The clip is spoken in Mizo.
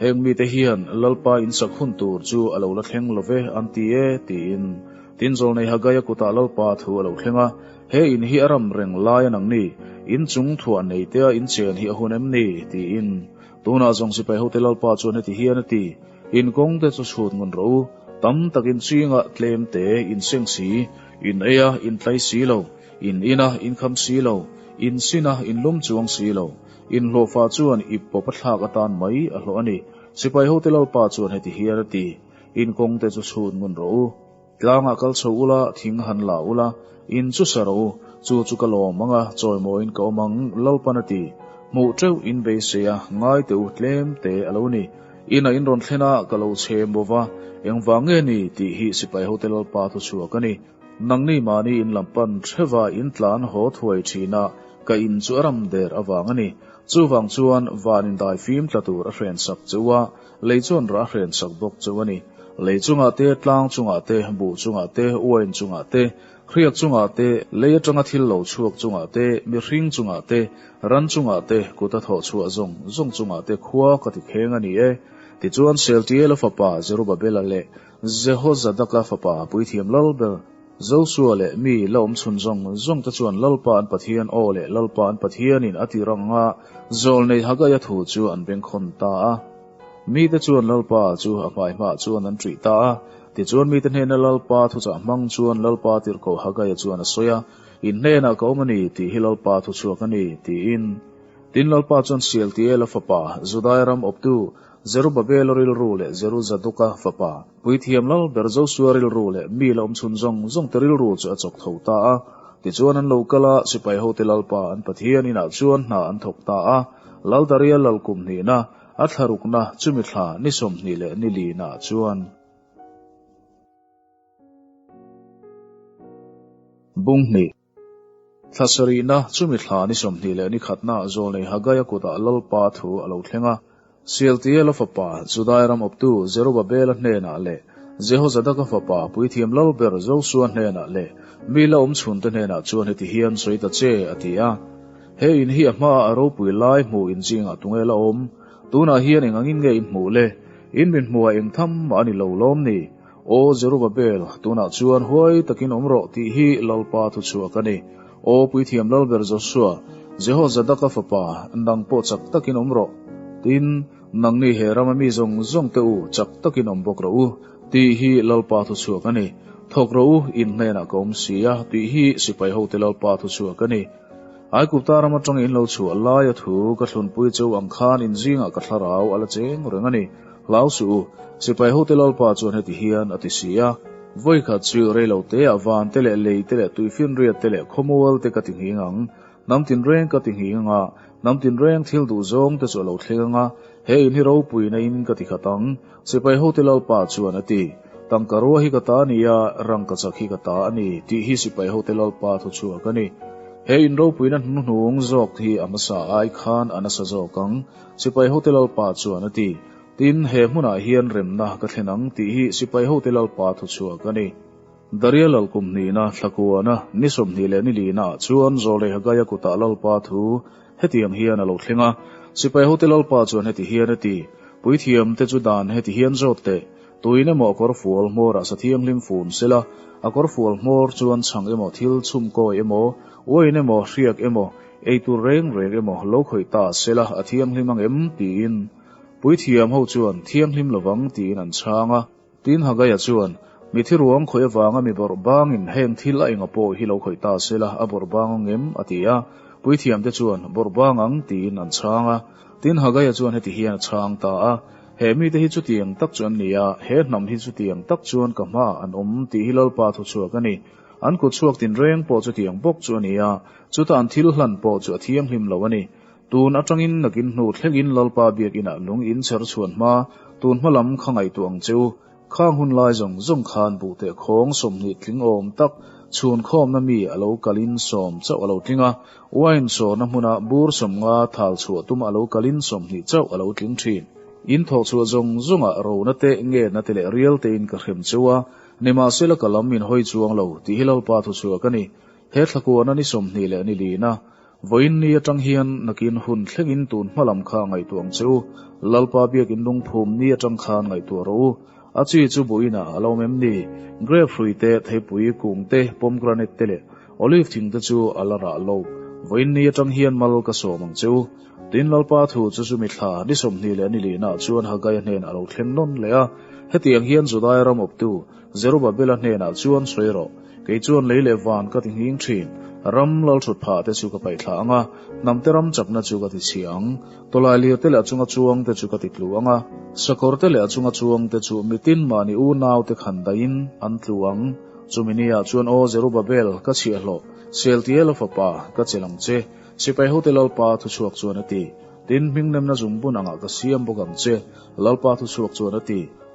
Heng mite hian Lalpa insak hun tur chu a lo la thleng lo ve an ti e, tiin tin Zawlnei Haggaia kutah Lalpa thu a lo thleng a, He in hi a ram reng lai a nang ni? In chung thuah nei tea in chen hi a hun em ni? tiin. Tunah zawng sipai hote Lalpa chuan heti hian a ti, In kawng te chu chhut ngun rawh u, tam takin chhinga tlem te, in seng si, in eia in tlai si lo, in ina in kham si lo, in sina in lum chuang si lo, Inhlawhfa chuan ip pawpa thlak atan mai a hlawh a ni. Sipai hote lalpa chuan heti hian a ti, In kawngte chu chhun ngun rawh u. Tlangah kal chho ula, thing han la ula, in chu sa rawh u. Chu chu ka lawm ang a, chawi mawiin ka awm ang, lalpan a ti. Hmuh teuh in beisei a, ngai teh u, tlem te a lo ni. Ina in rawn thlen a, ka lo chhe maw va, engvang nge ni? tih hi sipai hote lalpa thu chhuak a ni. Nangni mahni in lam pan hreva in tlan haw thuai thin a, ka in chu a ram der avang a ni. Chuvang chuan van indai fim tla tur a hren sak cheu a, lei chuan rah hren sak bawk cheu a ni. Lei chungah te, tlang chungah te, buh chungah te, uain chungah te, hriat chungah te, lei atanga thil lo chhuak chungah te, mihring chungah te, ran chungah te, kut a thawh chhuah zawng zawng chungah te khua ka ti kheng a ni e. Tichuan Sealtiela fapa Zerubabela leh Jehozadaka fapa puithiam lal ber, Josua leh mi la awmchhun zawng zawng te chuan Lalpa an Pathian aw leh Lalpa an Pathianin a tih rang anga zawl nei Haggaia thu chu an bengkhawn ta a. Mite chuan Lalpa chu a hmaihmah chuan an ṭih ta a, tichuan mite hnena Lalpa thuchah hmang chuan Lalpa tirhkoh Haggaia chuan a sawi a, In hnenah ka awm a ni tih hi Lalpa thuchhuak a ni, tiin. Tin Lalpa chuan Sealtiela fapa, Judaia ram awptu, Zerubbabela rilru leh Zeruzaduka fapa, puithiam lal ber Joshua rilru leh mi la awm chhun zawng zawngte rilru chu a chawk tho ta a. Tichuan an lo kal a, sipai hote Lalpa an Pathian inah chuan hna an thawk ta a, lal darial lal kum hnihna, a thla rukna, chumi thla, ni sawmhnih leh ni linah chuan. Bunghnih. Thla sarihna, Chumi thla ni sawmhnih leh ni khatna ah Zawlnei Haggaia kutah Lalpa thu a lo thleng a. Sealtiela fapa, Judaia ram awptu Jerubabela hnenah leh Jehozadaka fapa, puithiam lal ber Josua hnenah leh mi la awm chhunte hnenah chuan heti hian sawi ta che, a ti a. He in hi a hmaah a ropui lai hmuh in chi ngah tu nge la awm? Tunah hian eng angin nge i hmuh le? In min hmuh a eng tham mah a ni lo lawm ni? O Jerubabel, tunah chuan huai takin awm rawh tih hi Lalpa thuchhuak a ni. O Puithiam lal ber Joshua, Jehozadaka fapa, nang pawh chak takin awm rawh. Tin, nang nih he rama mi zawng zawng te u, chak takin awm bawk rawh u tih hi Lalpa thuchhuak a ni. Thawk rawh u, in hnenah ka awm si a tih hi sipai hote Lalpa thuchhuak a ni. Aigupta ram atangin lo chhuah laia thu ka thlunpui chu ang khan in zingah ka thlarau a la cheng reng a ni. Hlau suh u, sipai ho te Lalpa chuan heti hian a ti si a, Vawi khat chu reilo te ah van te leh lei te leh tui finriat te leh khawmual te ka ti nghing ang. Nam tinreng ka ti nghing ang a, nam tinreng thil duh zawng te chu a lo thleng ang a, he in hi ropui naiin ka ti khat ang, sipai ho te Lalpa chuan a ti. Tangka rua hi ka ta a ni a, rangka chak hi ka ta a ni, tih hi sipai ho te Lalpa thu chhuak a ni. He in ropuina hnuhnung zawk hi a hmasa a ai khan a nasa zawk ang. Sipai hote lalpa chuan a ti. Tin, he hmunah hian remna ka thlen ang tih hi sipai hote lalpa thuchhuak a ni. Daria lalkum hnihna, thlakuana, ni sawmhnih leh ni lina ah chuan Zawlei Haggai-a kutah lalpa thu hetiang hian a lo thleng a, Sipai hote lalpa chuan heti hian a ti, Puithiam te chu dan heti hian zawt teh, Tuin emaw kawr fual hmawrah sa thianghlim fun sela, a kawr fual hmawr chuan chhang emaw thil chhum kawi emaw, uain emaw hriak emaw, eitur reng reng emaw lo khawih ta sela a thianghlim ang em? tiin Puithiam ho chuan thianghlim lovang tiin an chhang a. Tin Haggai-a chuan, Mithi ruang khawih avanga mi bawrh bangin heng thil a enga pawh hi lo khawih ta sela a bawrh bang ang em? a ti a, Puithiam te chuan, Bawrh bang ang tiin an chhang a. Tin Haggai-a chuan heti hian a chhang ta a, He mite hi chutiang tak chu an ni a, he hnam hi chutiang tak chuan ka hmaah an awm tih hi Lalpa thuchhuak a ni. An kut chhuak tinreng pawh chutiang bawk chu a ni a, chuta an thil hlan pawh chu a thianghlim lo a ni. Tun atangin nakin hnu thlengin Lalpa Biak inah lung in chher chhuan hma tun hmalam kha ngaihtuah ang chu. Khang hun lai zawng zawng khan buh teh khawng sawmhnih tling awm tak chhun khawmna mi a lo kalin sawm chauh a lo tling a, wine sawrna hmuna bur sawm nga thal chhuah tuma a lo kalin sawmhnih chauh a lo tling thin. In thawh chhuah zawng zawng-a rona te, ngetna te leh rial tein ka hrem cheu a, nimahsela ka lam min hawi chuang lo, tih hi Lalpa thuchhuah ka ni. He thlakuahna ni sawmhnih leh ni lina, Vawiinni atang hian nakin hun thlengin tun hmalam kha ngaihtuah ang che u. Lalpa biakin lungphumni atang khan ngaihtuah rawh u. A chi chu buhina a lawm em ni? Grape hrui te, theipui, kung te, pomegranate te leh olive thing te chu a la rah lo. Vawiinni atang hian mal ka sawm ang che u. Tin, Lalpa thu chu chu mithla ni sawmhnih leh ni lihnah chuan Haggai-a hnen a lo thleng nawn leh a. Hetiang hian Judaia ram awptu, Zerubabbela hnenah chuan, Sawi rawh, kei chuan lei leh van ka ti nghing thin, ram lalthlawt phah te chu ka paih thla ang a, hnamte ram chapna chu ka ti chhia ang, tawlai lirte leh a chunga chuang te chu ka ti tlu ang a, sakawrte leh a chunga chuang te chu mitin mahni u nau te khan dahin an tlu ang. Chumi ni ah chuan, Aw Zerubabbel, ka chhiahhlawh, Sealtiela fapa, ka chelh ang che, Sipaihote lalpa thuchhuak chuan a ti, Tin hmingnemna zungbun angah ka siam bawk ang che, lalpa thuchhuak chuan a ti.